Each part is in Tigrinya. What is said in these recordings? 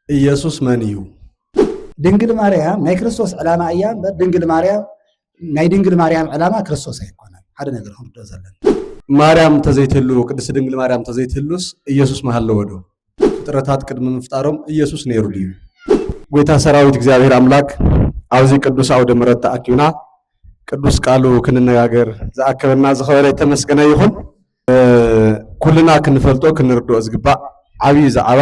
ኢየሱስ መን እዩ? ድንግል ማርያም ናይ ክርስቶስ ዕላማ እያ እምበር ድንግል ማርያም ናይ ድንግል ማርያም ዕላማ ክርስቶስ ኣይኮነን። ሓደ ነገር ክንርድኦ ዘለና ማርያም እንተዘይትህልው ቅድስት ድንግል ማርያም እንተዘይትህልውስ ኢየሱስ ምሃለወ ዶ? ፍጥረታት ቅድሚ ምፍጣሮም ኢየሱስ ነይሩ ድዩ? ጐይታ ሰራዊት እግዚኣብሔር ኣምላክ ኣብዚ ቅዱስ ኣውደ ምሕረት ተኣኪብና ቅዱስ ቃሉ ክንነጋገር ዝኣከበና ዝኸበረ የተመስገነ ይኹን። ኩልና ክንፈልጦ ክንርድኦ ዝግባእ ዓብዪ ዛዕባ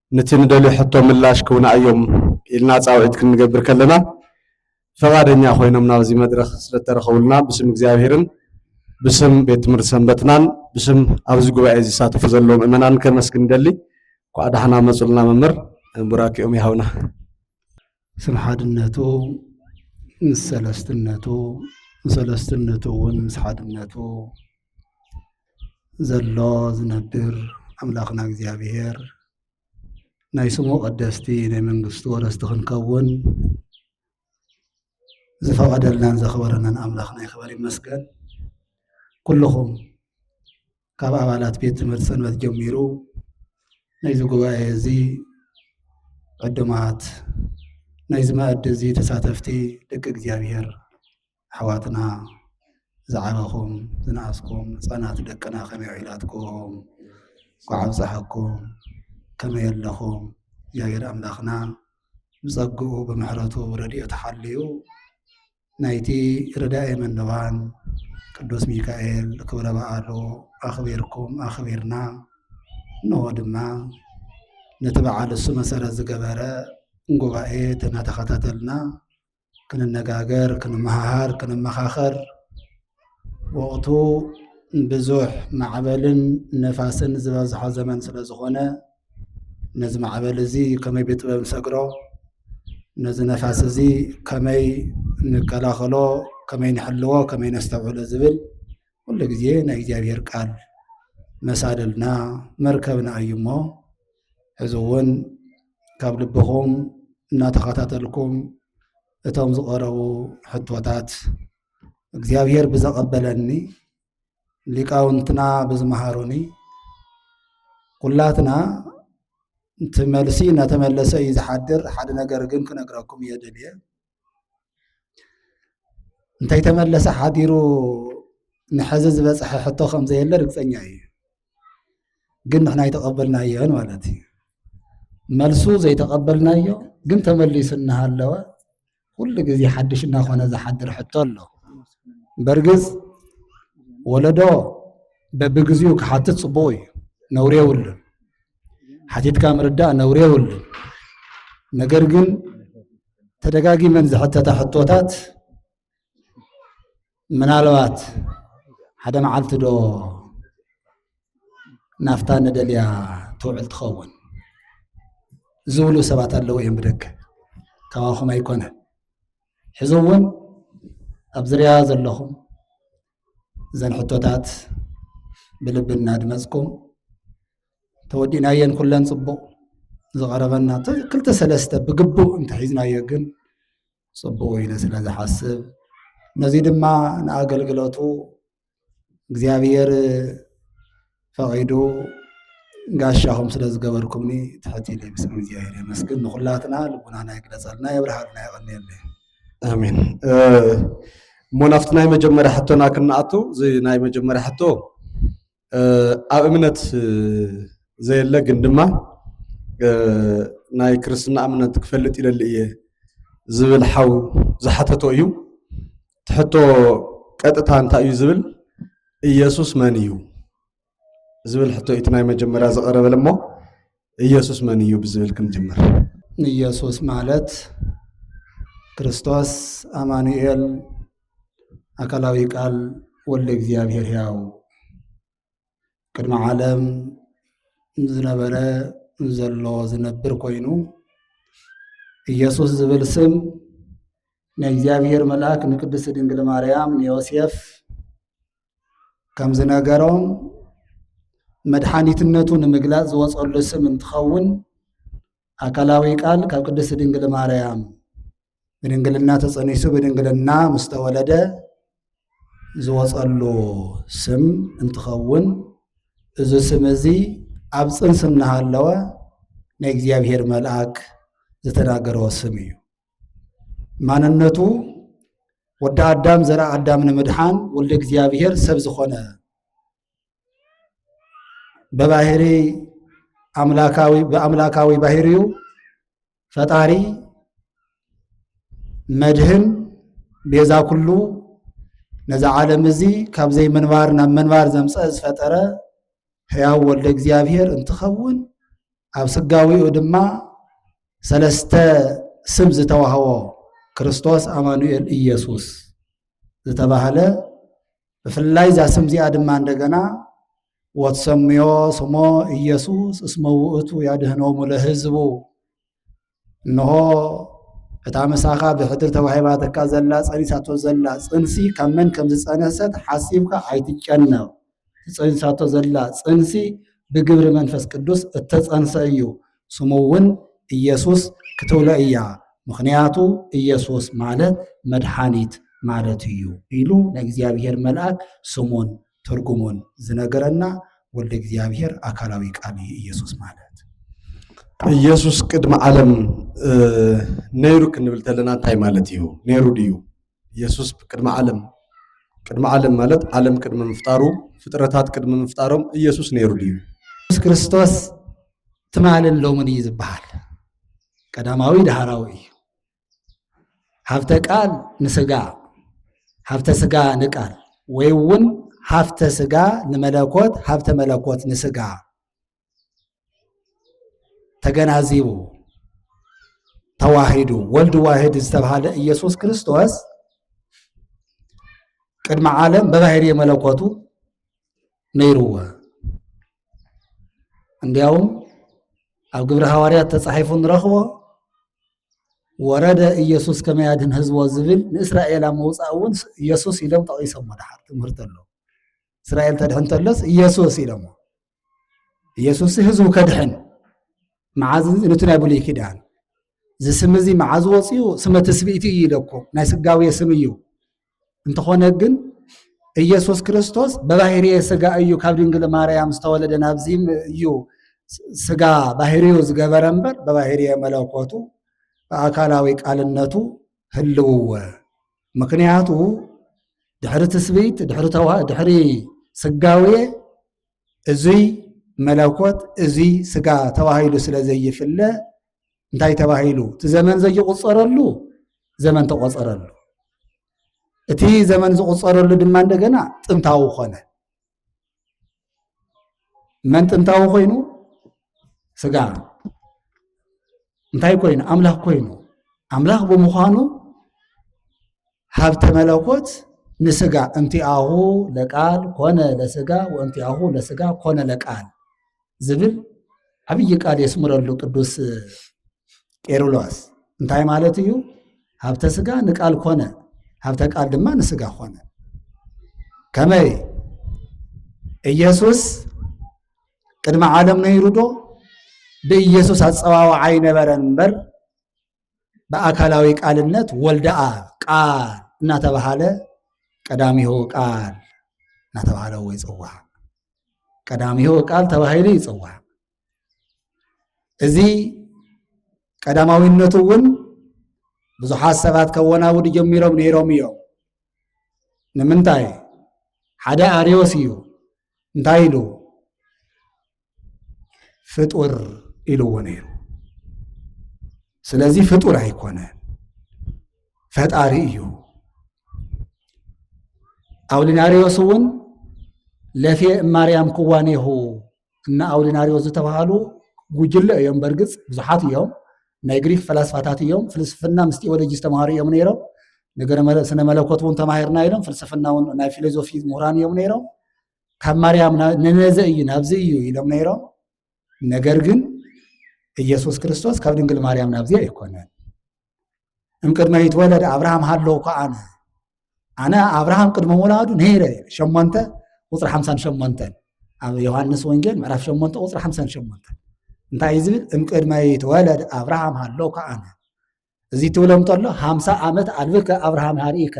ንቲ ንደልዮ ሕቶ ምላሽ ክውና እዮም ኢልና ጻውዒት ክንገብር ከለና ፈቓደኛ ኮይኖም ናብዚ መድረኽ ስለተረኸቡልና ብስም እግዚኣብሔርን ብስም ቤት ትምህርቲ ሰንበትናን ብስም ኣብዚ ጉባኤ ዝሳተፉ ዘለዉ ምእመናን ከመስግን ደሊ ኳዕ ዳሕና መፁልና መምህር ቡራኪኦም ይሃውና ስም ሓድነቱ ምስ ሰለስትነቱ ሰለስትነቱ እውን ምስ ሓድነቱ ዘሎ ዝነብር ኣምላኽና እግዚኣብሔር ናይ ስሙ ቀደስቲ ናይ መንግስቱ ወረስቲ ክንከውን ዝፈቐደልናን ዘኽበረናን ኣምላኽና ይኽበር ይመስገን። ኩልኹም ካብ ኣባላት ቤት ትምህርቲ ሰንበት ጀሚሩ ናይዚ ጉባኤ እዚ ዕዱማት ናይዚ መኣዲ እዚ ተሳተፍቲ ደቂ እግዚኣብሔር ኣሕዋትና ዝዓበኹም ዝነኣስኩም ህፃናት ደቅና ከመይ ዒላትኩም ኳዕ ኣብፀሐኩም ከመይ ኣለኹም እግዚኣብሔር ኣምላኽና ብፀግኡ ብምሕረቱ ረድኤቱ ሓልዩ ናይቲ ርዳኤ መነባን ቅዱስ ሚካኤል ክብረ በዓሉ ኣኽቢርኩም ኣኽቢርና እንሆ ድማ ነቲ በዓል እሱ መሰረት ዝገበረ ጉባኤ እናተኸታተልና ክንነጋገር፣ ክንመሃሃር፣ ክንመኻኸር ወቕቱ ብዙሕ ማዕበልን ንፋስን ዝበዝሖ ዘመን ስለ ዝኾነ ነዚ ማዕበል እዚ ከመይ ብጥበብ ንሰግሮ ነዚ ነፋስ እዚ ከመይ ንከላኸሎ ከመይ ንሕልዎ ከመይ ነስተውዕሎ ዝብል ኩሉ ግዜ ናይ እግዚኣብሔር ቃል መሳልልና መርከብና እዩ እሞ ሕዚ እውን ካብ ልብኹም እናተኸታተልኩም እቶም ዝቐረቡ ሕቶታት እግዚኣብሔር ብዘቐበለኒ ሊቃውንትና ብዝመሃሩኒ ኩላትና እቲ መልሲ እናተመለሰ እዩ ዝሓድር። ሓደ ነገር ግን ክነግረኩም እየ ደልየ እንተይተመለሰ ሓዲሩ ንሐዚ ዝበፅሐ ሕቶ ከምዘየለ ርግፀኛ እዩ። ግን ንሕና ኣይተቐበልናዮን ማለት እዩ። መልሱ ዘይተቐበልናዮ ግን ተመሊሱ እናሃለወ ኩሉ ግዜ ሓድሽ እናኾነ ዝሓድር ሕቶ ኣሎ። በርግጽ ወለዶ በብግዚኡ ክሓትት ጽቡቕ እዩ፣ ነውሪ የብሉን። ሓቲትካ ምርዳእ ነውሪ የብሉን። ነገር ግን ተደጋጊመን ዝሕተታ ሕቶታት ምናልባት ሓደ መዓልቲ ዶ ናፍታ ንደልያ ትውዕል ትኸውን ዝብሉ ሰባት ኣለዉ እዮም ብደገ ካባኹም ኣይኮነ ሕዚ እውን ኣብ ዝርያ ዘለኹም እዘን ሕቶታት ብልቢ እናድመፅኩም ተወዲእናየን ኩለን ፅቡቕ ዝቐረበና ክልተ ሰለስተ ብግቡእ እንተሒዝናዮ ግን ጽቡቕ ኢለ ስለ ዝሓስብ ነዚ ድማ ንኣገልግሎቱ እግዚኣብሔር ፈቒዱ ጋሻኹም ስለ ዝገበርኩምኒ ትሕት ኢለ ብስም እግዚኣብሔር የመስግን። ንኹላትና ልቡናና ይግለጸልና፣ የብርሃልና፣ የቐንየልና። ኣሜን እሞ ናብቲ ናይ መጀመርያ ሕቶና ክንኣቱ እዚ ናይ መጀመርያ ሕቶ ኣብ እምነት ዘየለ ግን ድማ ናይ ክርስትና እምነት ክፈልጥ ይደሊ እየ ዝብል ሓው ዝሓተቶ እዩ ትሕቶ ቀጥታ እንታይ እዩ ዝብል ኢየሱስ መን እዩ ዝብል ሕቶ እቲ ናይ መጀመርያ ዝቐረበለ እሞ ኢየሱስ መን እዩ ብዝብል ክንጅምር። ኢየሱስ ማለት ክርስቶስ ኣማኑኤል ኣካላዊ ቃል ወልደ እግዚኣብሔር ሕያው ቅድሚ ዓለም ዝነበረ ዘሎ ዝነብር ኮይኑ ኢየሱስ ዝብል ስም ናይ እግዚኣብሔር መልኣክ ንቅድስት ድንግል ማርያም ንዮሴፍ ከም ዝነገሮም መድሓኒትነቱ ንምግላፅ ዝወፀሉ ስም እንትኸውን ኣካላዊ ቃል ካብ ቅድስት ድንግል ማርያም ብድንግልና ተፀኒሱ ብድንግልና ምስ ተወለደ ዝወፀሉ ስም እንትኸውን እዚ ስም እዚ ኣብ ፅንስ እናሃለወ ናይ እግዚኣብሔር መልኣክ ዝተናገረዎ ስም እዩ። ማንነቱ ወዲ ኣዳም ዘርኢ ኣዳም ንምድሓን ወልደ እግዚኣብሔር ሰብ ዝኾነ በባህሪ ኣምላካዊ ብኣምላካዊ ባህሪዩ ፈጣሪ መድህን ቤዛ ኩሉ ነዚ ዓለም እዚ ካብ ዘይምንባር ናብ ምንባር ዘምፀ ዝፈጠረ ሕያው ወልደ እግዚኣብሔር እንትኸውን ኣብ ስጋዊኡ ድማ ሰለስተ ስም ዝተዋህቦ ክርስቶስ ኣማኑኤል ኢየሱስ ዝተባህለ ብፍላይ እዛ ስም እዚኣ ድማ እንደገና ወትሰምዮ ስሞ ኢየሱስ እስመ ውእቱ ያድኅኖሙ ለሕዝቡ እንሆ እታ ምሳኻ ብሕድር ተዋሂባትካ ዘላ ጸኒሳቶ ዘላ ጽንሲ ካብ መን ከም ዝጸነሰት ሓሲብካ ኣይትጨነቕ። ትጸኒሳቶ ዘላ ጽንሲ ብግብሪ መንፈስ ቅዱስ እተጸንሰ እዩ። ስሙ እውን ኢየሱስ ክትብሎ እያ። ምኽንያቱ ኢየሱስ ማለት መድሓኒት ማለት እዩ ኢሉ ናይ እግዚኣብሔር መልኣክ ስሙን ትርጉሙን ዝነገረና ወልደ እግዚኣብሔር ኣካላዊ ቃል እዩ ኢየሱስ ማለት። ኢየሱስ ቅድሚ ዓለም ነይሩ ክንብል ተለና እንታይ ማለት እዩ? ነይሩ ድዩ? ኢየሱስ ቅድሚ ዓለም ቅድሚ ዓለም ማለት ዓለም ቅድሚ ምፍጣሩ ፍጥረታት ቅድሚ ምፍጣሮም ኢየሱስ ነይሩ ድዩ? ኢየሱስ ክርስቶስ ትማልን ሎምን እዩ ዝበሃል። ቀዳማዊ ዳህራዊ እዩ። ሃፍተ ቃል ንስጋ ሃፍተ ስጋ ንቃል ወይ እውን ሃፍተ ስጋ ንመለኮት ሃፍተ መለኮት ንስጋ ተገናዚቡ ተዋሂዱ ወልድ ዋሂድ ዝተብሃለ ኢየሱስ ክርስቶስ ቅድሚ ዓለም በባህሪ መለኮቱ ነይርዎ። እንዲያውም ኣብ ግብረ ሃዋርያት ተጻሒፉ ንረኽቦ ወረደ ኢየሱስ ከመይ ኣድህን ህዝቦ ዝብል ንእስራኤል ኣብ ምውፃእ እውን ኢየሱስ ኢሎም ጠቒሶሞ ድሓር ትምህርቲ ኣሎ እስራኤል ተድሕን ተሎስ ኢየሱስ ኢሎሞ ኢየሱስ ህዝቡ ከድሕን መዓዝ ነቲ ናይ ብሉይ ኪዳን እዚ ስም እዚ መዓዝ ወፅኡ ስመ ትስብእቲ እዩ ኢለኩም ናይ ስጋዊ ስም እዩ እንተኾነ ግን ኢየሱስ ክርስቶስ በባህርየ ስጋ እዩ ካብ ድንግል ማርያም ዝተወለደ ናብዚ እዩ ስጋ ባህርዩ ዝገበረ እምበር በባህርየ መለኮቱ ብኣካላዊ ቃልነቱ ህልውወ ምክንያቱ ድሕሪ ትስብይት ድሕሪ ስጋውየ እዙይ መለኮት እዙይ ስጋ ተባሂሉ ስለ ዘይፍለ እንታይ ተባሂሉ እቲ ዘመን ዘይቁፀረሉ ዘመን ተቆፀረሉ እቲ ዘመን ዝቁፀረሉ ድማ እንደገና ጥንታዊ ኮነ መን ጥንታዊ ኮይኑ ስጋ እንታይ ኮይኑ ኣምላኽ ኮይኑ ኣምላኽ ብምዃኑ ሃብተ መለኮት ንስጋ እንቲኣሁ ለቃል ኮነ ለስጋ ወእንቲኣሁ ለስጋ ኮነ ለቃል ዝብል ዓብዪ ቃል የስምረሉ ቅዱስ ቄርሎስ። እንታይ ማለት እዩ? ሃብተ ስጋ ንቃል ኮነ፣ ሃብተ ቃል ድማ ንስጋ ኮነ። ከመይ ኢየሱስ ቅድሚ ዓለም ነይሩ ዶ? ብኢየሱስ ኣጸዋውዓ ኣይነበረን እምበር ብኣካላዊ ቃልነት ወልደኣ ቃል እናተባሃለ ቀዳሚሁ ቃል እናተባሃለ እዎ ይፅዋዕ። ቀዳሚሁ ቃል ተባሂሉ ይፅዋዕ። እዚ ቀዳማዊነቱ እውን ብዙሓት ሰባት ከወናውዱ ጀሚሮም ነይሮም እዮም። ንምንታይ ሓደ ኣርዮስ እዩ እንታይ ኢሉ ፍጡር ኢልዎ ነይሩ ስለዚ ፍጡር ኣይኮነ ፈጣሪ እዩ ኣውሊናሪዎስ እውን ለፌ ማርያም ክዋኔሁ እና ኣውሊናሪዎስ ዝተባሃሉ ጉጅለ እዮም በርግፅ ብዙሓት እዮም ናይ ግሪክ ፈላስፋታት እዮም ፍልስፍና ምስ ቴዎሎጂ ዝተምሃሩ እዮም ነይሮም ነገረ ስነ መለኮት እውን ተማሂርና ኢሎም ፍልስፍና እውን ናይ ፊሎዞፊ ምሁራን እዮም ነይሮም ካብ ማርያም ንነዘ እዩ ናብዚ እዩ ኢሎም ነይሮም። ነገር ግን ኢየሱስ ክርስቶስ ካብ ድንግል ማርያም ናብዚ ኣይኮነን። እምቅድመ ይትወለድ ኣብርሃም ሃለው እኳ ኣነ ኣነ ኣብርሃም ቅድመ ወላዱ ነይረ ሸሞንተ ቁፅሪ ሓምሳን ሸሞንተን ኣብ ዮሃንስ ወንጌል ምዕራፍ ሸሞንተ ቁፅሪ ሓምሳን ሸሞንተን እንታይ እዩ ዝብል እምቅድመ ይትወለድ ኣብርሃም ሃለው እኳ ኣነ እዚ ትብሎም ተሎ ሃምሳ ዓመት ኣልብከ ኣብርሃም ሃርኢከ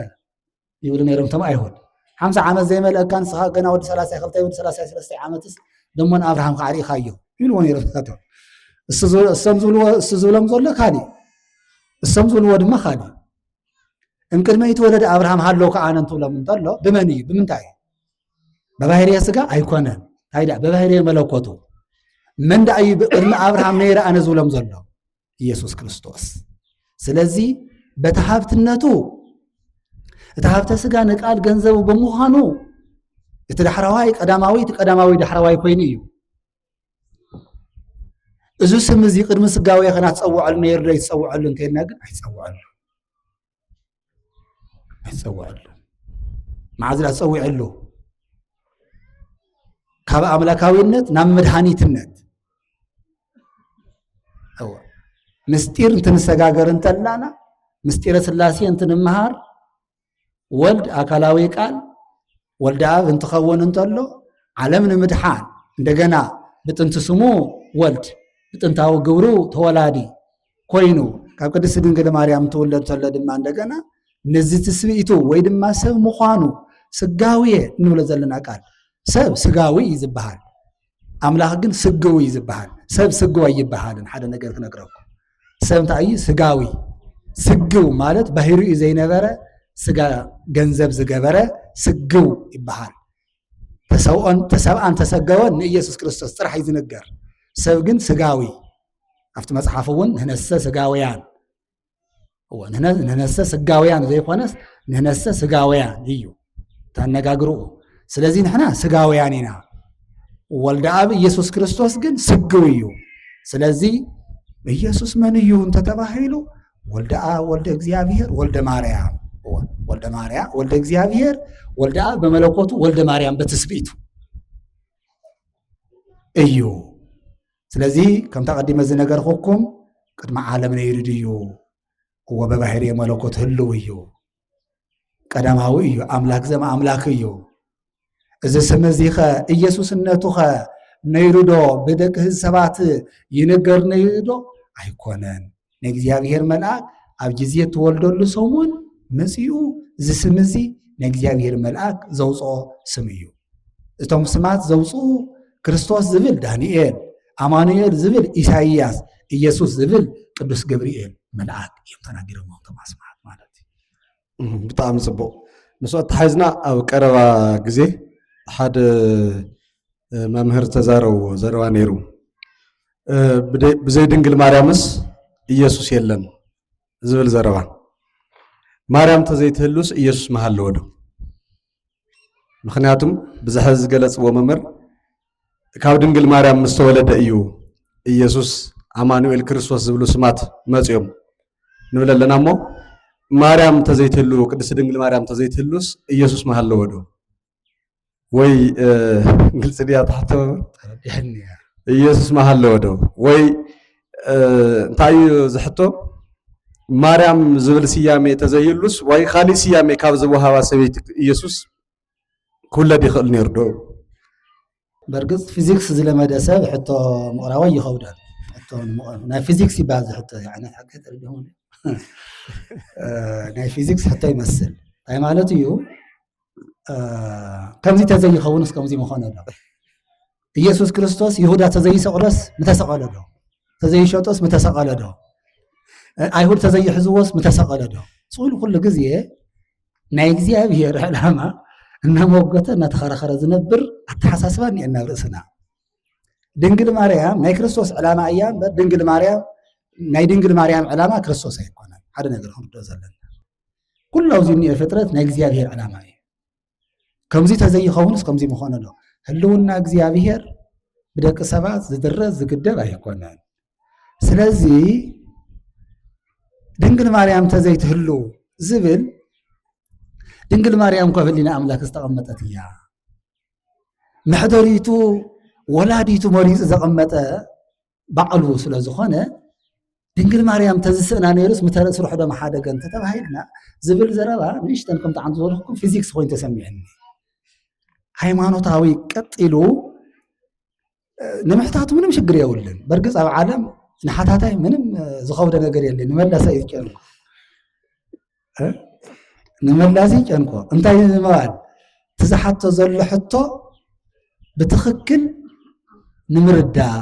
ይብሉ ነይሮም እቶም ኣይሁድ ሓምሳ ዓመት ዘይመልአካ ንስኻ ገና ወዲ ሰላሳ ክልተ ወዲ ሰላሳ ሰለስተ ዓመትስ ደሞን ኣብርሃም ከዓ ርኢኻ እዮ ይብልዎ ነይሮም እሳቶም እሶም ዝብልዎ እሱ ዝብሎም ዘሎ ካሊእ እሶም ዝብልዎ ድማ ካሊእ እምቅድመ ይትወለደ ኣብርሃም ሃለው ከዓ ኣነ እንትብሎም እንተሎ ብመን እዩ ብምንታይ እዩ በባህርየ ስጋ ኣይኮነን እንታይ ደኣ በባህርየ መለኮቱ መን ደኣ እዩ ቅድሚ ኣብርሃም ነይረ ኣነ ዝብሎም ዘሎ ኢየሱስ ክርስቶስ። ስለዚ በቲ ሃብትነቱ እቲ ሃብተ ስጋ ንቃል ገንዘቡ ብምዃኑ እቲ ዳሕረዋይ ቀዳማዊ እቲ ቀዳማዊ ዳሕረዋይ ኮይኑ እዩ። እዚ ስም እዚ ቅድሚ ስጋዊ ከና ትፀውዐሉ ነይሩ ዶ ይትፀውዐሉ እንተይልና ግን ኣይትፀውዐሉ። ኣይፀውዐሉ መዓዝ ዳ ፀዊዐሉ ካብ ኣምላካዊነት ናብ መድሃኒትነት ምስጢር እንትንሰጋገር እንተላና ምስጢረ ስላሴ እንትንምሃር ወልድ ኣካላዊ ቃል ወልድ ኣብ እንትኸውን እንተሎ ዓለም ንምድሓን እንደገና ብጥንቲ ስሙ ወልድ ብጥንታዊ ግብሩ ተወላዲ ኮይኑ ካብ ቅድስቲ ድንግል ማርያም ትውለድ ተሎ ድማ እንደገና ነዚ ትስብእቱ ወይ ድማ ሰብ ምዃኑ ስጋዊ እንብሎ ዘለና ቃል ሰብ ስጋዊ እዩ ዝበሃል ኣምላኽ ግን ስግዊ እዩ ዝበሃል ሰብ ስግዊ ኣይበሃልን ሓደ ነገር ክነግረኩም ሰብ እንታይ እዩ ስጋዊ ስግው ማለት ባህሪ እዩ ዘይነበረ ስጋ ገንዘብ ዝገበረ ስግው ይበሃል ተሰብኦን ተሰብኣን ተሰገወን ንኢየሱስ ክርስቶስ ጥራሕ እዩ ዝንገር ሰብ ግን ስጋዊ ኣብቲ መጽሓፍ እውን ንህነሰ ስጋውያን እዎ ንህነሰ ስጋውያን ዘይኮነስ ንህነሰ ስጋውያን እዩ ተነጋግርኡ ስለዚ ንሕና ስጋውያን ኢና ወልደ ኣብ ኢየሱስ ክርስቶስ ግን ስግው እዩ ስለዚ ኢየሱስ መን እዩ እንተተባሂሉ ወልደ ኣብ ወልደ እግዚኣብሔር ወልደ ማርያም እዎ ወልደ ማርያም ወልደ እግዚኣብሔር ወልደ ኣብ በመለኮቱ ወልደ ማርያም በትስብእቱ እዩ ስለዚ ከምታ ቀዲመ ዝነገርኩኩም ቅድሚ ዓለም ነይሩ ድዩ እዎ በባህሪ መለኮት ህልው እዩ ቀዳማዊ እዩ ኣምላክ ዘም ኣምላክ እዩ እዚ ስም እዚ ኸ ኢየሱስነቱ ኸ ነይሩ ዶ ብደቂ ህዝቢ ሰባት ይንገር ነይሩ ዶ ኣይኮነን ናይ እግዚኣብሔር መልኣክ ኣብ ግዜ እትወልደሉ ሰሙን መጺኡ እዚ ስም እዚ ናይ እግዚኣብሔር መልኣክ ዘውፅኦ ስም እዩ እቶም ስማት ዘውፅኡ ክርስቶስ ዝብል ዳንኤል ኣማኑኤል ዝብል ኢሳይያስ ኢየሱስ ዝብል ቅዱስ ገብርኤል መልኣክ እዮም ተናጊሮም እቶም ኣስማት ማለት እዩ ብጣዕሚ ጽቡቕ ምስ ኣተሓዝና ኣብ ቀረባ ግዜ ሓደ መምህር ተዛረብዎ ዘረባ ነይሩ ብዘይ ድንግል ማርያምስ ኢየሱስ የለን ዝብል ዘረባ ማርያም ተዘይትህሉስ ኢየሱስ መሃለወ ዶ ምክንያቱም ብዚ ሕዚ ዝገለፅዎ መምህር ካብ ድንግል ማርያም ምስ ተወለደ እዩ ኢየሱስ ኣማኑኤል ክርስቶስ ዝብሉ ስማት መፅኦም ንብል ኣለና እሞ ማርያም ተዘይትህሉ ቅድስት ድንግል ማርያም ተዘይትህሉስ ኢየሱስ መሃለወ ዶ ወይ እ፣ ግልፂ ድያ ትሕቶ መምህር? ተረዲሐኒ እያ ኢየሱስ መሃለወ ዶ ወይ እንታይ እዩ ዝሕቶ ማርያም ዝብል ስያሜ ተዘይህሉስ ወይ ካሊእ ስያሜ ካብ ዝወሃባ ሰበይቲ ኢየሱስ ክውለድ ይኽእል ነይሩ ዶ? በርግፅ ፊዚክስ ዝለመደ ሰብ ሕቶ ምቕራቦ ይኸብዳል። ሕቶ ናይ ፊዚክስ ይበሃል ዝሕቶ እዚ ዓይነት ሓቂ ተረዲኹም ናይ ፊዚክስ ሕቶ ይመስል እንታይ ማለት እዩ ከምዚ ተዘይኸውንስ ከምዚ ምኾነ ዶ ኢየሱስ ክርስቶስ ይሁዳ ተዘይሰቕሎስ ምተሰቐለ ዶ ተዘይሸጦስ ምተሰቐለ ዶ ኣይሁድ ተዘይሕዝዎስ ምተሰቐለ ዶ ስሉ ኩሉ ግዜ ናይ እግዚኣብሔር ዕላማ እናመወገተ እናተኸረኸረ ዝነብር ኣተሓሳስባ እኒኤና ናብ ርእስና ድንግል ማርያም ናይ ክርስቶስ ዕላማ እያ እምበር ድንግል ማርያም ናይ ድንግል ማርያም ዕላማ ክርስቶስ ኣይኮነን ሓደ ነገር ክንርድኦ ዘለና ኩሉ ኣብዚ እኒኦ ፍጥረት ናይ እግዚኣብሔር ዕላማ እዩ ከምዚ ተዘይኸውንስ ከምዚ ምኾነ ዶ ህልውና እግዚኣብሔር ብደቂ ሰባት ዝድረስ ዝግደብ ኣይኮነን ስለዚ ድንግል ማርያም ተዘይትህሉ ዝብል ድንግል ማርያም እኳ ህሊና ኣምላክ ዝተቐመጠት እያ መሕደሪቱ ወላዲቱ መሪፁ ዘቐመጠ ባዕሉ ስለ ዝኾነ ድንግል ማርያም ተዝስእና ነይሩስ ምተረ ስርሑ ዶ ምሓደገ እንተተባሂልና ዝብል ዘረባ ንእሽተን ከም ጣዕሚ ዝበልኩ ፊዚክስ ኮይኑ ተሰሚዑኒ ሃይማኖታዊ ቀጢሉ ንምሕታቱ ምንም ሽግር የብሉን በርግፅ ኣብ ዓለም ንሓታታይ ምንም ዝኸብደ ነገር የለን ንመለሰ እዩ ጨርኩ ንመላዚ ጨንቆ እንታይ ንምባል እቲ ዝሓቶ ዘሎ ሕቶ ብትኽክል ንምርዳእ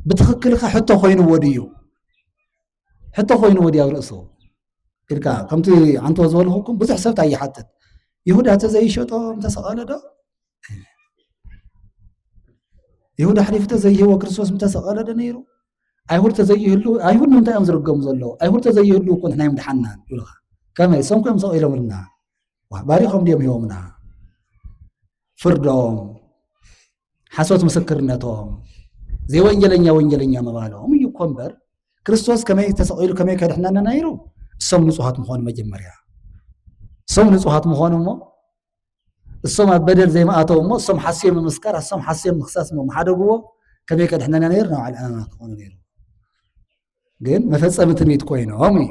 ብትኽክል ከ ሕቶ ኮይኑዎ ድዩ ሕቶ ኮይኑዎ ድዩ ኣብ ርእሱ ኢልካ ከምቲ ዓንትዎ ዝበልኹኩም ብዙሕ ሰብት ኣይሓትት ይሁዳ እተ ዘይሸጦ እንተሰቐለ ዶ ይሁዳ ኣሕሊፉ ተዘይህቦ ክርስቶስ ምተሰቐለ ዶ ነይሩ ኣይሁድ ተዘይህሉ ኣይሁድ ንምንታይ እዮም ዝርገሙ ዘለዉ ኣይሁድ ተዘይህሉ እኮ ንሕና እዮም ድሓና ይብልካ ከመይ ሰም ኮዮም ሰቒሎምልና ባሪኾም ድዮም ሂቦምና ፍርዶም ሓሶት ምስክርነቶም ዘይወንጀለኛ ወንጀለኛ ምባሎም እዩ እኮ እምበር ክርስቶስ ከመይ ተሰቒሉ ከመይ ከድሕናና ነይሩ እሶም ንፁሃት ምኾኑ መጀመርያ እሶም ንፁሃት ምኾኑ እሞ እሶም ኣብ በደል ዘይምኣተው እሞ እሶም ሓስዮም ምምስካር ኣሶም ሓስዮም ምክሳስ እሞ ምሓደግዎ ከመይ ከድሕነና ነይሩ ናብ ዓል ዕማማ ክኾኑ ነይሩ ግን መፈፀሚ ትንቢት ኮይኖም እዩ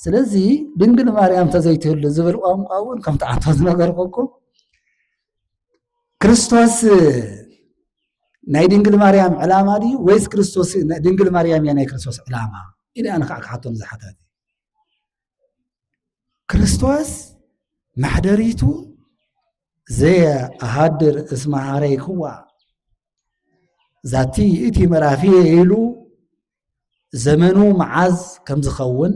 ስለዚ ድንግል ማርያም ተዘይትህሉ ዝብል ቋንቋ እውን ከም ተዓንቶ ዝነገርኩኩም ክርስቶስ ናይ ድንግል ማርያም ዕላማ ድዩ ወይስ ክርስቶስ ድንግል ማርያም እያ ናይ ክርስቶስ ዕላማ ኢለ ኣነ ከዓ ክሓቶም ዝሓታት ክርስቶስ መሕደሪቱ ዘየ ኣሃድር እስመ ኀረይክዋ ዛቲ ይእቲ መራፍየ ኢሉ ዘመኑ መዓዝ ከም ዝኸውን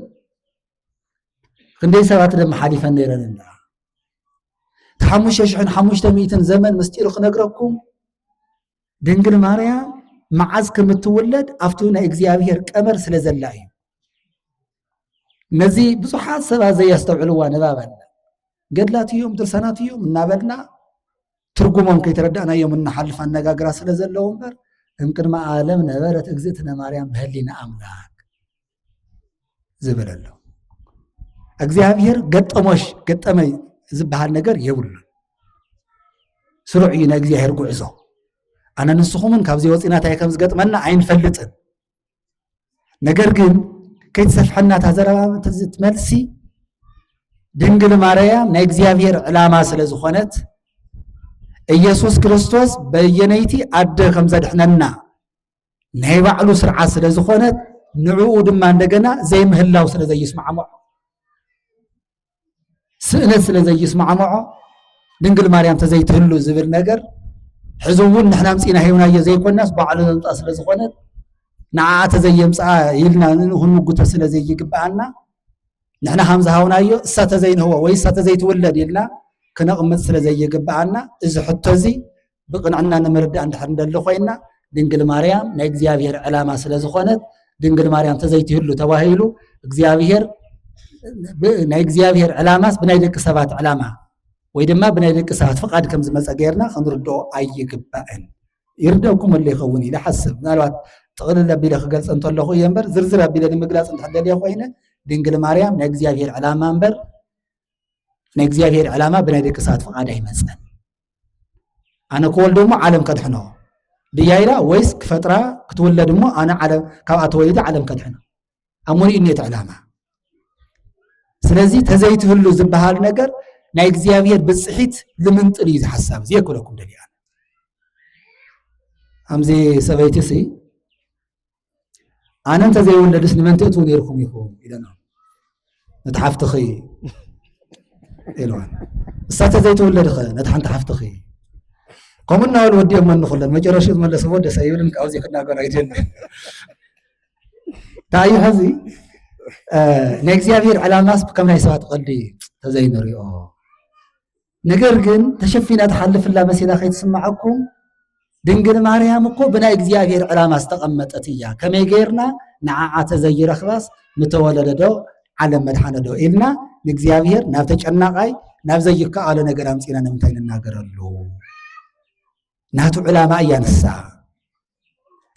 ክንደይ ሰባት ደማ ሓሊፈን ነይረን እንዳ እቲ ሓሙሽተ ሽሕን ሓሙሽተ ሚእትን ዘመን ምስጢሩ ክነግረኩም ድንግል ማርያም መዓዝ ከም እትውለድ ኣብቲ ናይ እግዚኣብሔር ቀመር ስለ ዘላ እዩ ነዚ ብዙሓት ሰባት ዘየስተውዕልዋ ንባብ ኣላ ገድላት እዮም ድርሰናት እዮም እናበልና ትርጉሞም ከይተረዳእናዮም እናሓልፍ ኣነጋግራ ስለ ዘለዎ እምበር እምቅድሚ ዓለም ነበረት እግዝእትነ ማርያም በህሊና ኣምላክ ዝብል ኣሎ እግዚኣብሔር ገጠሞሽ ገጠመይ ዝበሃል ነገር የብሉን ስሩዕ እዩ ናይ እግዚኣብሔር ጉዕዞ ኣነ ንስኹምን ካብዚ ወፂና እንታይ ከም ዝገጥመና ኣይንፈልጥን ነገር ግን ከይትሰፍሐና እታ ዘረባ መልሲ ድንግል ማርያም ናይ እግዚኣብሔር ዕላማ ስለ ዝኾነት ኢየሱስ ክርስቶስ በየነይቲ ኣደ ከም ዘድሕነና ናይ ባዕሉ ስርዓት ስለ ዝኾነት ንዕኡ ድማ እንደገና ዘይምህላው ስለ ዘይስማዕምዖ ስእነት ስለ ዘይስማዕምዖ ድንግል ማርያም ተዘይትህሉ ዝብል ነገር ሕዚ እውን ንሕና ምፅና ሂብናዮ ዘይኮናስ ባዕሉ ዘምፃ ስለ ዝኾነት ንዓ ተዘየምፅኣ ኢልና ክንምጉቶ ስለ ዘይግብኣና ንሕና ከም ዝሃውናዮ እሳ ተዘይንህቦ ወይ እሳ ተዘይትውለድ ኢልና ክነቕምጥ ስለ ዘይግብኣና እዚ ሕቶ እዚ ብቕንዕና ንምርዳእ እንድሕር እንደሊ ኮይና ድንግል ማርያም ናይ እግዚኣብሔር ዕላማ ስለ ዝኾነት ድንግል ማርያም ተዘይትህሉ ተባሂሉ እግዚኣብሔር ናይ እግዚኣብሔር ዕላማስ ብናይ ደቂ ሰባት ዕላማ ወይ ድማ ብናይ ደቂ ሰባት ፍቓድ ከም ዝመፀ ገይርና ክንርድኦ ኣይግባእን ይርደኩም ኣሎ ይኸውን ኢለ ሓስብ ምናልባት ጥቕልል ኣቢለ ክገልፀ እንተለኹ እየ እምበር ዝርዝር ኣቢለ ንምግላፅ እንተደልየ ኮይነ ድንግል ማርያም ናይ እግዚኣብሔር ዕላማ እምበር ናይ እግዚኣብሔር ዕላማ ብናይ ደቂ ሰባት ፍቓድ ኣይመፀን ኣነ ክወልዶ እሞ ዓለም ከድሕኖ ብያይዳ ወይስ ክፈጥራ ክትውለድ እሞ ኣነ ዓለም ካብኣ ተወሊደ ዓለም ከድሕኖ ኣብ ሙሉእ እኔት ዕላማ ስለዚ ተዘይትህሉ ዝበሃል ነገር ናይ እግዚኣብሔር ብፅሒት ልምንጥል እዩ ዝሓሳብ እዚ የክለኩም ደሊያ ኣምዚ ሰበይቲ ሲ ኣነ እንተዘይወለድስ ንመን ትእትዉ ነይርኩም ኢኹም ኢለና ነቲ ሓፍትኺ ኢልዋን እሳ እንተዘይተወለድኸ ነቲ ሓንቲ ሓፍትኺ ከምኡ እናበሉ ወዲኦም መንኹለን መጨረሹ ዝመለስዎ ደሰ ይብልን ካብዚ ክናገር ኣይደልን እንታይ እዩ ሕዚ ናይ እግዚኣብሔር ዕላማስ ከም ናይ ሰባት ቐልዲ ተዘይንሪኦ ነገር ግን ተሸፊና ትሓልፍላ መሲላ ከይትስምዓኩም ድንግል ማርያም እኮ ብናይ እግዚኣብሔር ዕላማ ዝተቐመጠት እያ ከመይ ገይርና ንዓዓ ተዘይረኽባስ ምተወለደዶ ዓለም መድሓነዶ ኢልና ንእግዚኣብሔር ናብ ተጨናቃይ ናብ ዘይከኣሎ ነገር ኣምፂና ንምንታይ ንናገረሉ ናቱ ዕላማ እያ ንሳ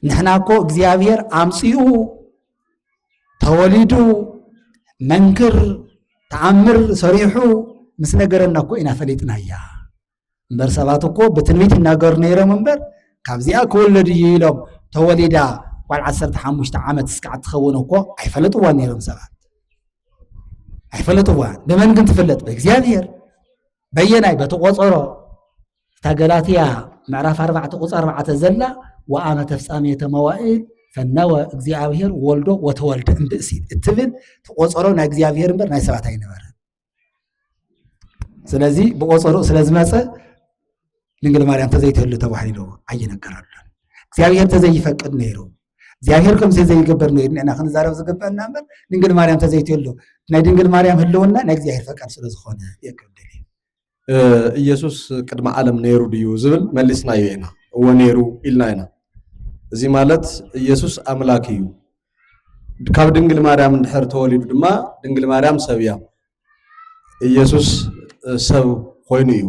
ንሕና እኮ እግዚኣብሔር ኣምፅኡ ተወሊዱ መንክር ተኣምር ሰሪሑ ምስ ነገረና እኮ ኢና ፈሊጥናያ እምበር ሰባት እኮ ብትንቢት ይናገሩ ነይሮም እምበር ካብዚኣ ክወለድ እዩ ኢሎም ተወሊዳ ጓል ዓሰርተ ሓሙሽተ ዓመት እስካዕ ትኸውን እኮ ኣይፈለጥዋን ነይሮም ሰባት ኣይፈለጥዋን ብመን ግን ትፍለጥ ብእግዚኣብሔር በየናይ በቲ ቆፀሮ እታ ገላትያ ምዕራፍ ኣርባዕተ ቁፅ ኣርባዕተ ዘላ ወኣመ ተፍጻሜተ መዋእል ፈነወ እግዚኣብሔር ወልዶ ወተወልደ እምብእሲ እትብል ተቆፀሮ ናይ እግዚኣብሔር እምበር ናይ ሰባት ኣይነበረ ስለዚ ብቆፀሮ ስለዝመፀ ድንግል ማርያም ተዘይትህሉ ተባሂሉ ኣይነገረሉን እግዚኣብሔር ተዘይፈቅድ ነይሩ እግዚኣብሔር ከምዚ ዘይገበር ነይሩ ንና ክንዛረብ ዝግበአና እምበር ድንግል ማርያም ተዘይትህሉ ናይ ድንግል ማርያም ህልውና ናይ እግዚኣብሔር ፈቃድ ስለዝኾነ የቅብል ኢየሱስ ቅድሚ ዓለም ነይሩ ድዩ ዝብል መሊስናዮ ኢና፣ እወ ነይሩ ኢልና ኢና። እዚ ማለት ኢየሱስ ኣምላክ እዩ። ካብ ድንግል ማርያም እንድሕር ተወሊዱ ድማ ድንግል ማርያም ሰብ እያ። ኢየሱስ ሰብ ኮይኑ እዩ።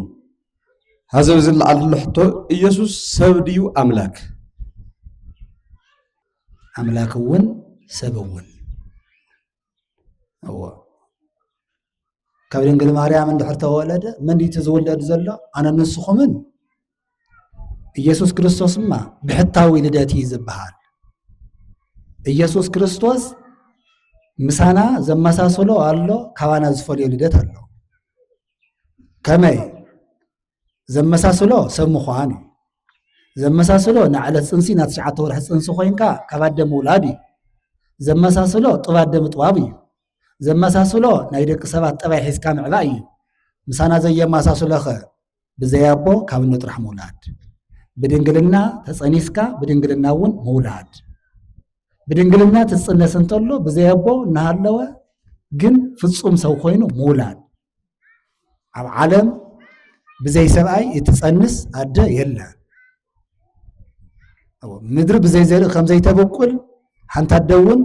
ሀዚ ኣብዚ ዝለዓል ዘሎ ሕቶ ኢየሱስ ሰብ ድዩ ኣምላክ? ኣምላክ እውን ሰብ እውን እዎ ካብ ድንግል ማርያም እንድሕር ተወለደ መን እቲ ዝውለድ ዘሎ ኣነ ንስኹምን ኢየሱስ ክርስቶስ ድማ ብሕታዊ ልደት እዩ ዝበሃል ኢየሱስ ክርስቶስ ምሳና ዘመሳሰሎ ኣሎ ካባና ዝፈልዮ ልደት ኣሎ ከመይ ዘመሳስሎ ሰብ ምዃን እዩ ዘመሳስሎ ንዕለት ፅንሲ ናብ ትሽዓተ ወርሒ ፅንሲ ኮይንካ ካብ ኣደ ምውላድ እዩ ዘመሳስሎ ጥብ ኣደ ምጥባብ እዩ ዘመሳስሎ ናይ ደቂ ሰባት ጠባይ ሒዝካ ምዕባእ እዩ ምሳና ዘየመሳስሎኸ ብዘይ ኣቦ ካብ እኖ ጥራሕ ምውላድ ብድንግልና ተፀኒስካ ብድንግልና እውን ምውላድ ብድንግልና ትፅነስ እንተሎ ብዘይ ኣቦ እናሃለወ ግን ፍፁም ሰው ኮይኑ ምውላድ ኣብ ዓለም ብዘይ ሰብኣይ እትፀንስ ኣደ የለን ምድሪ ብዘይ ዘርኢ ከም ዘይተበቁል ሓንቲ ኣደ እውን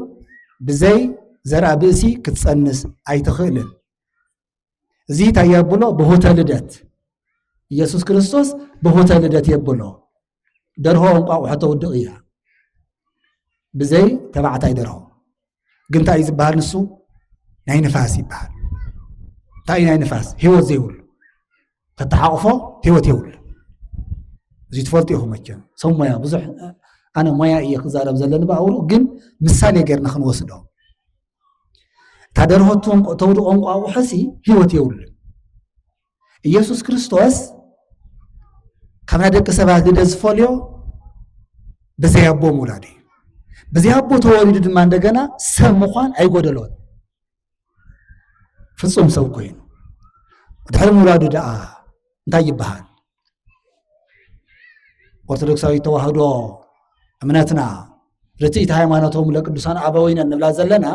ብዘይ ዘርኣ ብእሲ ክትፀንስ ኣይትኽእልን እዚ እንታይ የብሎ ብሆተ ልደት ኢየሱስ ክርስቶስ ብሆተ ልደት የብሎ ደርሆ እንቋቑሖ ተውድቕ እያ ብዘይ ተባዕታይ ደርሆ ግን እንታይ እዩ ዝበሃል ንሱ ናይ ንፋስ ይበሃል እንታይ እዩ ናይ ንፋስ ህይወት ዘይብሉ ተተሓቑፎ ህይወት የብሉ እዚ ትፈልጡ ኢኹም መቸም ሰብ ሞያ ብዙሕ ኣነ ሞያ እየ ክዛረብ ዘለኒ ብኣውሩ ግን ምሳሌ ጌርና ክንወስዶ እታ ደርሆ ተውድቖ እንቋቑሖ ሲ ህይወት የብሉ ኢየሱስ ክርስቶስ ካብ ናይ ደቂ ሰባት ግደ ዝፈልዮ ብዘይ ኣቦ ምውላድ እዩ ብዘይ ኣቦ ተወሊዱ ድማ እንደገና ሰብ ምዃን ኣይጎደሎን ፍጹም ሰብ ኮይኑ ድሕሪ ምውላዱ ደኣ እንታይ ይበሃል ኦርቶዶክሳዊ ተዋህዶ እምነትና ርትኢት ሃይማኖቶም ለቅዱሳን ኣበዊነ እንብላ ዘለና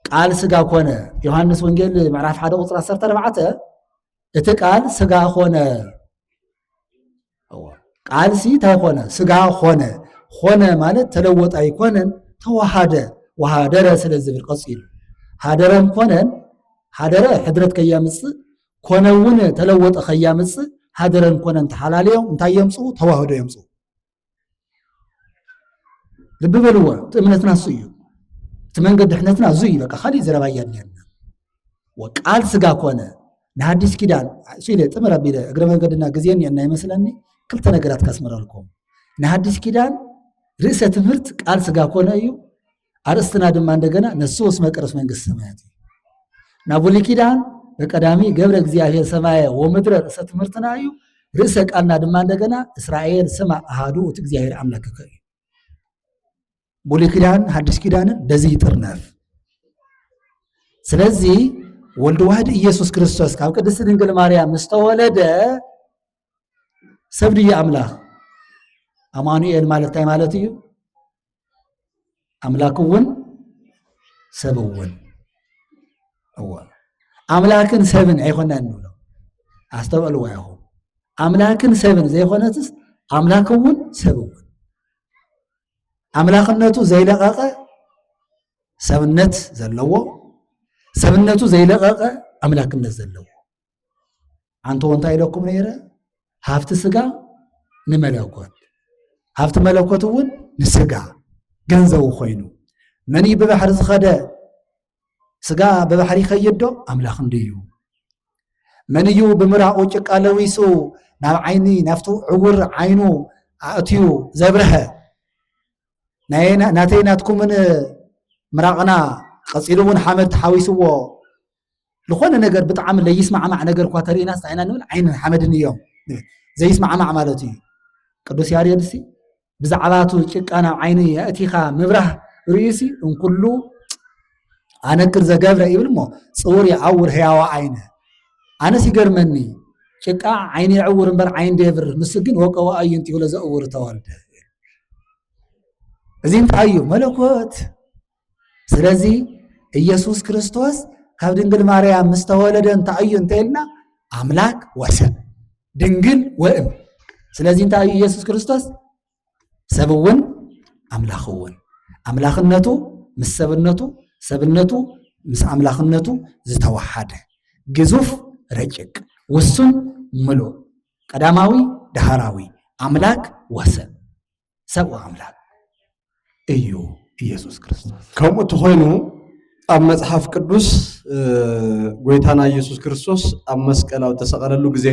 ቃል ስጋ ኮነ ዮሃንስ ወንጌል ምዕራፍ ሓደ ቁፅሪ 14 እቲ ቃል ስጋ ኮነ ቃል ሲ እንታይ ኮነ ስጋ ኮነ ኮነ ማለት ተለወጠ ኣይኮነን ተዋሃደ ወሃደረ ስለ ዝብል ቀፂሉ ሃደረን ኮነን ሃደረ ሕድረት ከያምፅእ ኮነ እውን ተለወጠ ከያምፅእ ሃደረን ኮነን ተሓላለዮም እንታይ የምፅኡ ተዋህዶ የምፅኡ ልቢ በልዎ እቲ እምነትና እሱ እዩ እቲ መንገድ ድሕነትና እዙ እዩ በቃ ካሊእ ዘረባ እያድልያና ወቃል ስጋ ኮነ ንሃዲስ ኪዳን እሱ ኢለ ጥምር ኣቢለ እግረ መንገድና ግዜ እኒአና ይመስለኒ ክልተ ነገራት ካስምረልኩም ንሃዲስ ኪዳን ርእሰ ትምህርት ቃል ስጋ ኮነ እዩ ኣርእስትና ድማ እንደገና ነሱ ወስ መቅረስ መንግስት ሰማያት እዩ ናብ ብሉይ ኪዳን በቀዳሚ ገብረ እግዚኣብሔር ሰማየ ወምድረ ርእሰ ትምህርትና እዩ። ርእሰ ቃልና ድማ እንደገና እስራኤል ስማ ኣሃዱ እቲ እግዚኣብሔር ኣምላክከ እዩ። ብሉይ ኪዳን ሓድሽ ኪዳንን በዚ ይጥርነፍ። ስለዚ ወልድ ዋህድ ኢየሱስ ክርስቶስ ካብ ቅድስቲ ድንግል ማርያም ምስተወለደ ሰብ ድዩ ኣምላኽ? ኣማኑኤል ማለት እንታይ ማለት እዩ? ኣምላክ እውን ሰብ እውን እወ ኣምላክን ሰብን ኣይኮናን ንብሎ ኣስተውዕልዎ ኢኹም ኣምላክን ሰብን ዘይኮነትስ ኣምላክ እውን ሰብ እውን ኣምላክነቱ ዘይለቐቐ ሰብነት ዘለዎ ሰብነቱ ዘይለቐቐ ኣምላክነት ዘለዎ ኣንተ እንታይ ኢለኩም ነይረ? ሃፍቲ ስጋ ንመለኮት ሃፍቲ መለኮት እውን ንስጋ ገንዘቡ ኮይኑ መን እዩ ብባሕሪ ዝኸደ ስጋ ብባሕሪ ይኸይድ ዶ ኣምላኽ እንድዩ መን እዩ ብምራቑ ጭቃ ለዊሱ ናብ ዓይኒ ናብቲ ዕውር ዓይኑ ኣእትዩ ዘብርሀ ናተይ ናትኩምን ምራቕና ቀፂሉ እውን ሓመድ ተሓዊስዎ ዝኾነ ነገር ብጣዕሚ ለይስማዕማዕ ነገር እኳ ተርእናስ እንታይ ኢና ንብል ዓይንን ሓመድን እዮም ንብል ዘይስማዕማዕ ማለት እዩ ቅዱስ ያሬድ ሲ ብዛዕባቱ ጭቃ ናብ ዓይኒ የእቲኻ ምብራህ ርእዩሲ እንኩሉ ኣነክር ዘገብረ ይብል እሞ ፅውር ይዓውር ህያዋ ዓይነ ኣነስ ይገርመኒ ጭቃ ዓይኒ የዕውር እምበር ዓይን ዶ የብርህ ንሱ ግን ወቀዋ እዩ እንቲሁ ለዘእውር ተወልደ እዚ እንታይ እዩ መለኮት ስለዚ ኢየሱስ ክርስቶስ ካብ ድንግል ማርያም ምስ ተወለደ እንታይ እዩ እንተኢልና ኣምላክ ወሰብ ድንግል ወእም ስለዚ እንታይ እዩ ኢየሱስ ክርስቶስ ሰብ እውን ኣምላኽ እውን ኣምላኽነቱ ምስ ሰብነቱ ሰብነቱ ምስ ኣምላኽነቱ ዝተወሓደ ግዙፍ ረጭቅ ውሱን ምሉእ ቀዳማዊ ዳህራዊ ኣምላክ ወሰብ ሰብኡ ኣምላክ እዩ ኢየሱስ ክርስቶስ። ከምኡ ተኾይኑ ኣብ መጽሓፍ ቅዱስ ጎይታና ኢየሱስ ክርስቶስ ኣብ መስቀል ኣብ ተሰቐለሉ ግዜ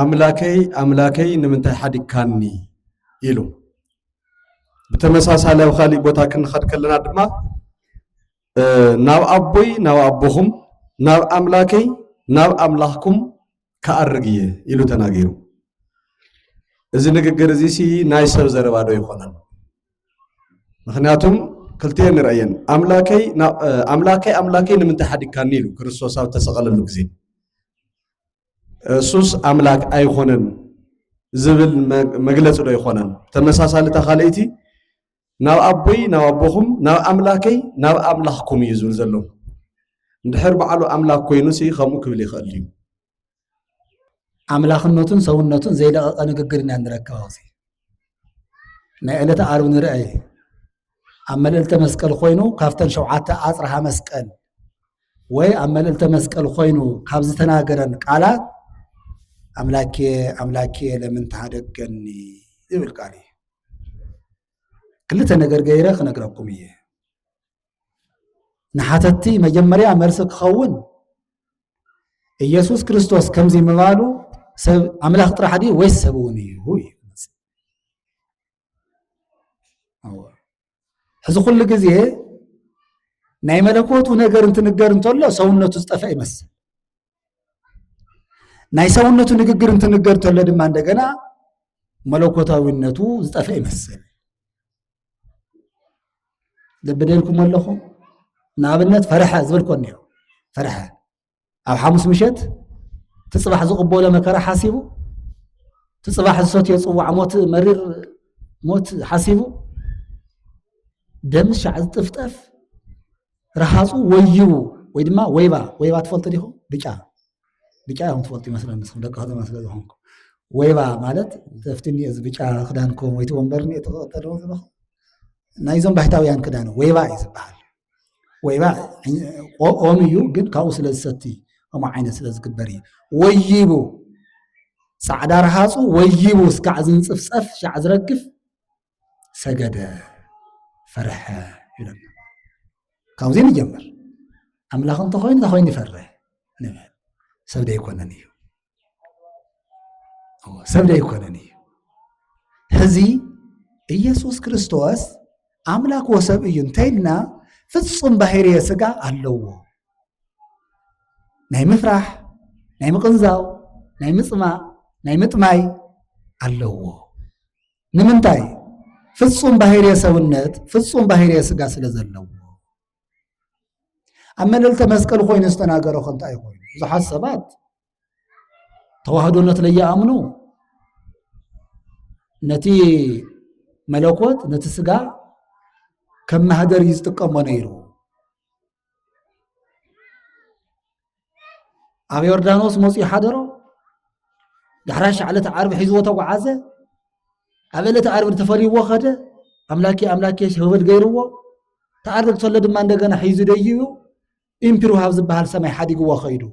ኣምላከይ ኣምላከይ ንምንታይ ሓዲካኒ ኢሉ ብተመሳሳሊ ኣብ ካሊእ ቦታ ክንኸድ ከለና ድማ ናብ ኣቦይ ናብ ኣቦኹም ናብ ኣምላከይ ናብ ኣምላኽኩም ክኣርግ እየ ኢሉ ተናጊሩ። እዚ ንግግር እዚ ሲ ናይ ሰብ ዘረባ ዶ ይኾነን? ምክንያቱም ክልቲኤን ንርእየን ኣምላከይ ኣምላከይ ኣምላከይ ንምንታይ ሓዲግካኒ ኢሉ ክርስቶስ ኣብ ተሰቐለሉ ግዜ እሱስ ኣምላክ ኣይኾነን ዝብል መግለፂ ዶ ይኾነን? ተመሳሳሊ እታ ካልኣይቲ ናብ ኣቦይ ናብ ኣቦኹም ናብ ኣምላከይ ናብ ኣምላኽኩም እዩ ዝብል ዘሎ እንድሕር በዓሉ ኣምላክ ኮይኑ ሲ ከምኡ ክብል ይኽእል እዩ ኣምላኽነቱን ሰውነቱን ዘይለቐቐ ንግግር ኢና ንረክብ ኣብዚ ናይ ዕለተ ዓርብ ንርአ ኣብ መልእልተ መስቀል ኮይኑ ካብተን ሸውዓተ ኣፅርሃ መስቀል ወይ ኣብ መልእልተ መስቀል ኮይኑ ካብ ዝተናገረን ቃላት ኣምላኬ ኣምላኬ ለምን ተሃደገኒ ዝብል ቃል እዩ ክልተ ነገር ገይረ ክነግረኩም እየ ንሓተቲ መጀመርያ መልሲ ክኸውን ኢየሱስ ክርስቶስ ከምዚ ምባሉ ሰብ ኣምላኽ ጥራሕ ድዩ ወይስ ሰብ እውን እዩ እዩ ሕዚ ኩሉ ግዜ ናይ መለኮቱ ነገር እንትንገር እንተሎ ሰውነቱ ዝጠፍአ ይመስል። ናይ ሰውነቱ ንግግር እንትንገር እንተሎ ድማ እንደገና መለኮታዊነቱ ዝጠፍአ ይመስል። ልቢ ደልኩም ኣለኹም? ንኣብነት ፈርሐ ዝበልኮ እኒኦ ፈርሐ ኣብ ሓሙስ ምሸት እቲ ፅባሕ ዝቕበሎ መከራ ሓሲቡ እቲ ፅባሕ ዝሰትዮ ፅዋዕ ሞት መሪር ሞት ሓሲቡ ደምስ ሻዕ ዝጥፍጠፍ ረሃፁ ወዩ ወይ ድማ ወይባ ወይባ ትፈልጡ ዲኹም ብጫ ብጫ እዮም ትፈልጡ ይመስለኒ ንስኹም ደቂ ከተማ ስለ ዝኾንኩ ወይባ ማለት ተፍቲ እኒኦ እዚ ብጫ ክዳንኩም ወይ እቲ ወንበር እኒኦ ተቐጠልዎ ዘለኹም ናይዞም ባሕታውያን ክዳን ወይባ እዩ ዝበሃል ወይባ ኦም እዩ ግን ካብኡ ስለ ዝሰቲ ከምኡ ዓይነት ስለ ዝግበር እዩ ወይቡ ፃዕዳ ረሃፁ ወይቡ እስካዕ ዝንፅፍፀፍ ሻዕ ዝረግፍ ሰገደ ፈርሐ ይብለና ካብዚ ንጀምር ኣምላኽ እንተኮይኑ እታ ኮይኑ ይፈርሕ ንብል ሰብ ደይኮነን እዩ ሰብ ዘይኮነን እዩ ሕዚ ኢየሱስ ክርስቶስ ኣምላክ ወሰብ እዩ እንተይልና ፍጹም ባህርየ ስጋ ኣለዎ ናይ ምፍራሕ ናይ ምቕንዛው ናይ ምፅማእ ናይ ምጥማይ ኣለዎ ንምንታይ ፍጹም ባህርየ ሰውነት ፍጹም ባህርየ ስጋ ስለ ዘለዎ ኣብ መለልተ መስቀል ኮይኑ ዝተናገሮ ከንታይ ኮይኑ ብዙሓት ሰባት ተዋህዶነት ለይኣምኑ ነቲ መለኮት ነቲ ስጋ ከም ማህደር እዩ ዝጥቀሞ ነይሩ ኣብ ዮርዳኖስ መፅኡ ሓደሮ ዳሕራይ ሻዕለት ዓርቢ ሒዝዎ ተጓዓዘ ኣብ ዕለት ዓርቢ ተፈልይዎ ኸደ ኣምላኬ ኣምላኬ ሸበል ገይርዎ ተዓርቢ ተሎ ድማ እንደገና ሒዙ ደይቡ ኢምፒር ውሃብ ዝበሃል ሰማይ ሓዲግዎ ኸይዱ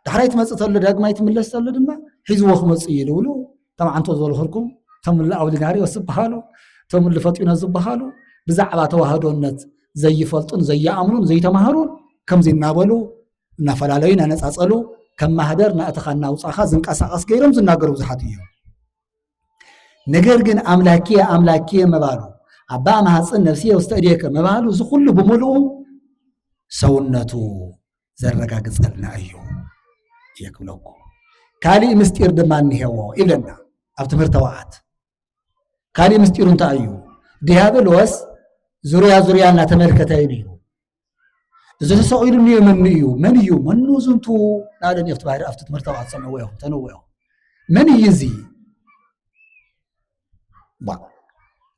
ዳሕራይ ትመፅእ ተሎ ዳግማይ ትምለስ ተሎ ድማ ሒዝዎ ክመፅእ እዩ ዝብሉ እቶም ዓንቶ ዝበልኹልኩም እቶም እለ ኣውሊናሪዎስ ዝበሃሉ እቶም እለ ፈጢኖ ዝበሃሉ ብዛዕባ ተዋህዶነት ዘይፈልጡን ዘይኣምኑን ዘይተማህሩን ከምዚ እናበሉ እናፈላለዩ እናነፃፀሉ ከም ማህደር ናእትኻ እናውፃኻ ዝንቀሳቐስ ገይሮም ዝናገሩ ብዙሓት እዮም ነገር ግን ኣምላኪየ ኣምላኪየ ምባሉ ኣባ ማሃፅን ነፍሲየ ውስተ እዴከ ምባሉ እዚ ኩሉ ብምልኡ ሰውነቱ ዘረጋግጸልና እዩ እየ ክብለኩ ካሊእ ምስጢር ድማ እኒሄዎ ይብለና ኣብ ትምህርተ ወዓት ካሊእ ምስጢሩ እንታይ እዩ ዲያብሎስ ዙርያ ዙርያ እናተመልከተ እዩ ነይሩ እዚ ተሰቂሉ እኒኦ መኑ እዩ መን እዩ መኑ ዝንቱ ናበለን ኣብቲ ባህሪ ኣብቲ ትምህርተ ወዓት ሰምዕዎ እዮም ተንዎ እዮም መን እዩ እዚ ዋ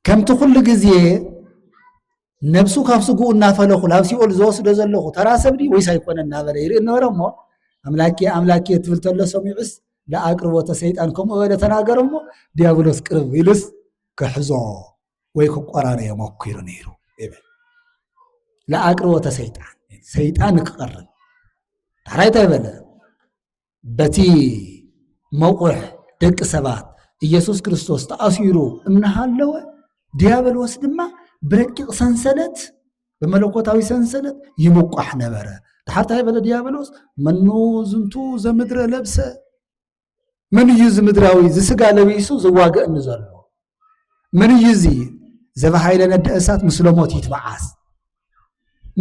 ከምቲ ኩሉ ግዜ ነብሱ ካብ ስግኡ እናፈለኹ ናብ ሲኦል ዝወስዶ ዘለኹ ተራ ሰብ ድዩ ወይስ ኣይኮነ እናበለ ይርኢ ነበረ እሞ ኣምላኬ ኣምላኬ ትብል ተሎ ሰሚዑስ ለኣቅርቦተ ሰይጣን ከምኡ በለ ተናገረ እሞ ዲያብሎስ ቅርብ ኢሉስ ክሕዞ ወይ ክቆራረዮ መኪሩ ነይሩ ይብል ለኣቅርቦተ ሰይጣን ሰይጣን ክቐርብ ዳሕራይ እንታይ በለ በቲ መቝሕ ደቂ ሰባት ኢየሱስ ክርስቶስ ተኣሲሩ እናሃለወ ዲያብሎስ ድማ ብረቂቕ ሰንሰለት ብመለኮታዊ ሰንሰለት ይምቋሕ ነበረ ድሓር እንታይ በለ ዲያብሎስ መኑ ዝንቱ ዘምድረ ለብሰ መን እዩ እዚ ምድራዊ እዚ ስጋ ለቢሱ ዝዋግእኒ ዘሎ መን እዩ እዚ ዘበሃይለ ነደ እሳት ምስለ ሞት ይትበዓስ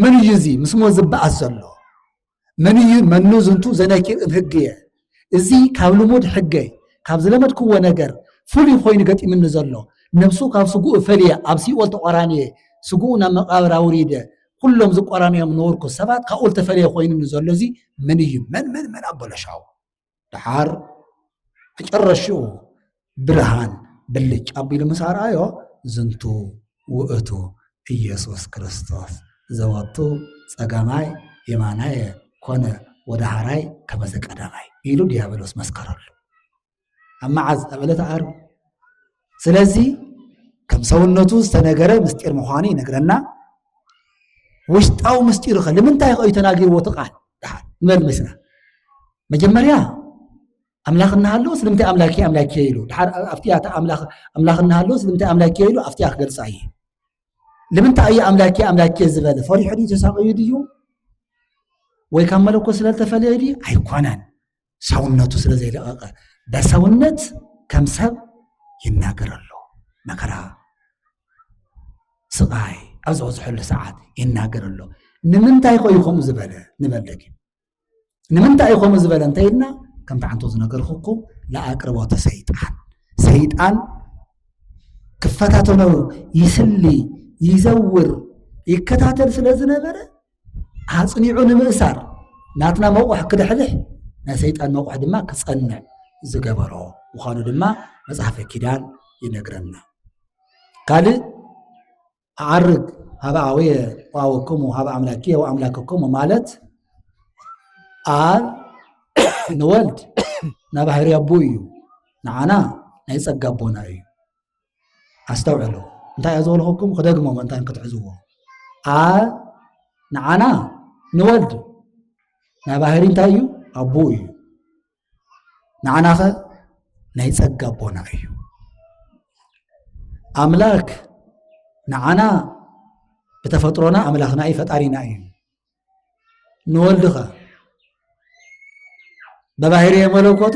መን እዩ እዚ ምስ ሞት ዝበኣስ ዘሎ መን እዩ መኑ ዝንቱ ዘነኪር እብ ህግ እየ እዚ ካብ ልሙድ ሕገይ ካብ ዝለመድክዎ ነገር ፍሉይ ኮይኑ ገጢምኒ ዘሎ ነብሱ ካብ ስጉኡ ፈልየ ኣብ ሲኦል ተቋራንየ ስጉኡ ናብ መቃብር ኣውሪደ ኩሎም ዝቆራንዮም ነበርኩ ሰባት ካብኡ ዝተፈለየ ኮይኑኒ ዘሎ እዚ መን እዩ መን መን መን ኣበለሻው ደሓር መጨረሽኡ ብርሃን ብልጭ ኣቢሉ ምስ ኣርኣዮ ዝንቱ ውእቱ ኢየሱስ ክርስቶስ ዘወቱ ጸጋማይ የማናየ ኮነ ወደሃራይ ከመዘ ቀዳማይ ኢሉ ዲያብሎስ መስከረሉ ኣብ መዓዝ ኣብ ዕለተ ዓርቢ ስለዚ ከም ሰውነቱ ዝተነገረ ምስጢር ምዃኑ ይነግረና ውሽጣዊ ምስጢሩ ኸ ንምንታይ ኸእዩ ተናጊርዎ እቲ ቃል ድሓር ንበል ምስና መጀመርያ ኣምላኽ እናሃለዎ ስለምንታይ ኣምላኬ ኣምላኬ ኢሉ ድሓር ኣብቲኣ ኣምላኽ እናሃለዎ ስለምንታይ ኣምላኬ ኢሉ ኣብቲኣ ክገልፃ እየ ንምንታይ እዩ ኣምላኬ ኣምላኬ ዝበለ ፈሪሑ ድዩ ተሳቂዩ ድዩ ወይ ካብ መለኮ ስለዝተፈለየ ድዩ ኣይኮነን ሰውነቱ ስለ ዘይለቐቐ በሰውነት ከም ሰብ ይናገር ኣሎ መከራ ስቓይ ኣብ ዝበዝሐሉ ሰዓት ይናገር ኣሎ ንምንታይ ኮዩ ከምኡ ዝበለ ንበል ደጊ ንምንታይ እዩ ከምኡ ዝበለ እንታይ ኢልና ከምቲ ዓንቶ ዝነገርኩኩም ንኣቅርቦተ ሰይጣን ሰይጣን ክፈታተኖ ይስሊ ይዘውር ይከታተል ስለ ዝነበረ ኣጽኒዑ ንምእሳር ናትና መቑሕ ክድሕልሕ ናይ ሰይጣን መቑሕ ድማ ክጸንዕ ዝገበሮ ምዃኑ ድማ መጽሓፈ ኪዳን ይነግረና ካልእ ኣዓርግ ሃበ ኣወየ ወኣወክሙ ሃበ ኣምላኪ ወኣምላክክሙ ማለት ኣብ ንወልድ ናባህሪ ኣቦ እዩ ንዓና ናይ ጸጋ ኣቦና እዩ ኣስተውዕሉ እንታይ እያ ዝበልኹኩም ክደግሞ ምእንታን ክትሕዝዎ ኣ ንዓና ንወልድ ናይ ባህሪ እንታይ እዩ ኣቦ እዩ ንዓናኸ ናይ ጸጋ ኣቦና እዩ ኣምላክ ንዓና ብተፈጥሮና ኣምላኽና እዩ ፈጣሪና እዩ ንወልድኸ በባህርየ መለኮቱ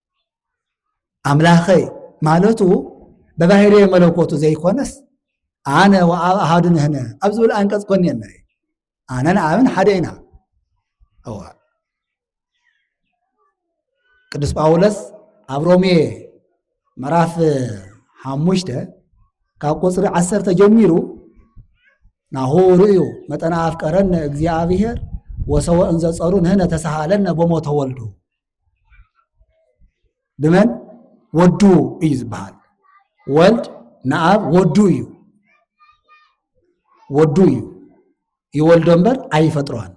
ኣምላኸይ ማለቱ በባህርየ መለኮቱ ዘይኮነስ ኣነ ወኣብ ኣሃዱ ንህነ ኣብ ዝብል ኣንቀጽ ኮን እየ ንርኢ ኣነን ኣብን ሓደ ኢና እወ ቅዱስ ጳውሎስ ኣብ ሮሜ ምዕራፍ ሓሙሽተ ካብ ቁፅሪ ዓሰርተ ጀሚሩ ናሁ ርእዩ መጠነ ኣፍቀረነ እግዚኣብሔር ወሰወ እንዘጸሩ ንህነ ተሳሃለነ ቦሞ ተወልዱ ብመን ወዱ እዩ ዝበሃል ወልድ ንኣብ ወዱ እዩ ወዱ እዩ ይወልዶ እምበር ኣይፈጥሮን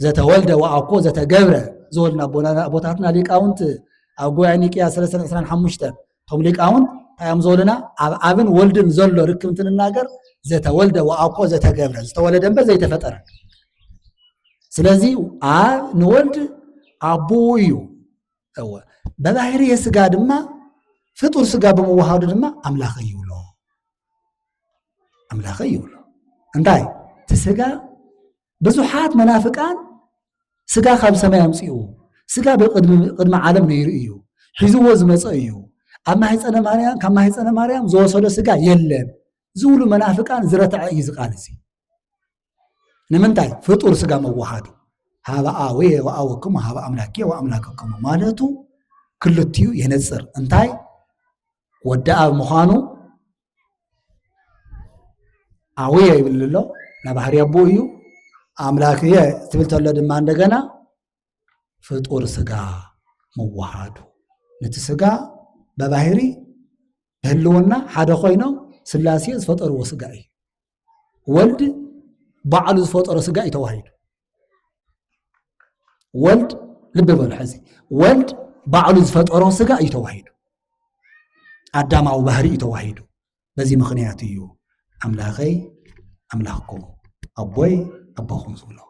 ዘተወልደ ወኣኮ ዘተገብረ ዝወልና ኣቦታትና ሊቃውንት ኣብ ጉባኤ ኒቅያ 325 እቶም ሊቃውንት እንታይ እዮም ዝበሉና ኣብ ኣብን ወልድን ዘሎ ርክብ እንትንናገር ዘተወልደ ወኣኮ ዘተገብረ ዝተወለደ እምበር ዘይተፈጠረ ስለዚ ኣብ ንወልድ ኣቦኡ እዩ እወ በባህሪ የስጋ ድማ ፍጡር ስጋ ብምውሃዱ ድማ ኣምላኸ ይብሎ ኣምላኸ ይብሎ እንታይ እቲ ስጋ ብዙሓት መናፍቃን ስጋ ካብ ሰማይ ኣምፅኡ ስጋ ብቅድሚ ዓለም ነይሩ እዩ ሒዝዎ ዝመፀ እዩ ኣብ ማህፀነ ማርያም ካብ ማህፀነ ማርያም ዝወሰዶ ስጋ የለን ዝብሉ መናፍቃን ዝረትዐ እዩ ዝቃል እዚ ንምንታይ ፍጡር ስጋ መዋሃዱ ሃበኣወ ወኣወክሙ ሃበ ኣምላኬ ወኣምላከክሙ ማለቱ ክልትኡ የነፅር እንታይ ወዲ ኣብ ምዃኑ ኣውየ ይብል ኣሎ ናይ ባህሪ ኣቦ እዩ ኣምላክ እየ ትብል ተሎ ድማ እንደገና ፍጡር ስጋ ምዋሃዱ ነቲ ስጋ በባህሪ ብህልውና ሓደ ኮይኖም ስላሴ ዝፈጠርዎ ስጋ እዩ ወልድ ባዕሉ ዝፈጠሮ ስጋ እዩ ተዋሂዱ ወልድ ልቢ በሉ ሕዚ ወልድ ባዕሉ ዝፈጠሮ ስጋ እዩ ተዋሂዱ ኣዳማዊ ባህሪ እዩ ተዋሂዱ በዚ ምክንያት እዩ ኣምላኸይ ኣምላኽኩም ኣቦይ ኣቦኹም ዝብሎ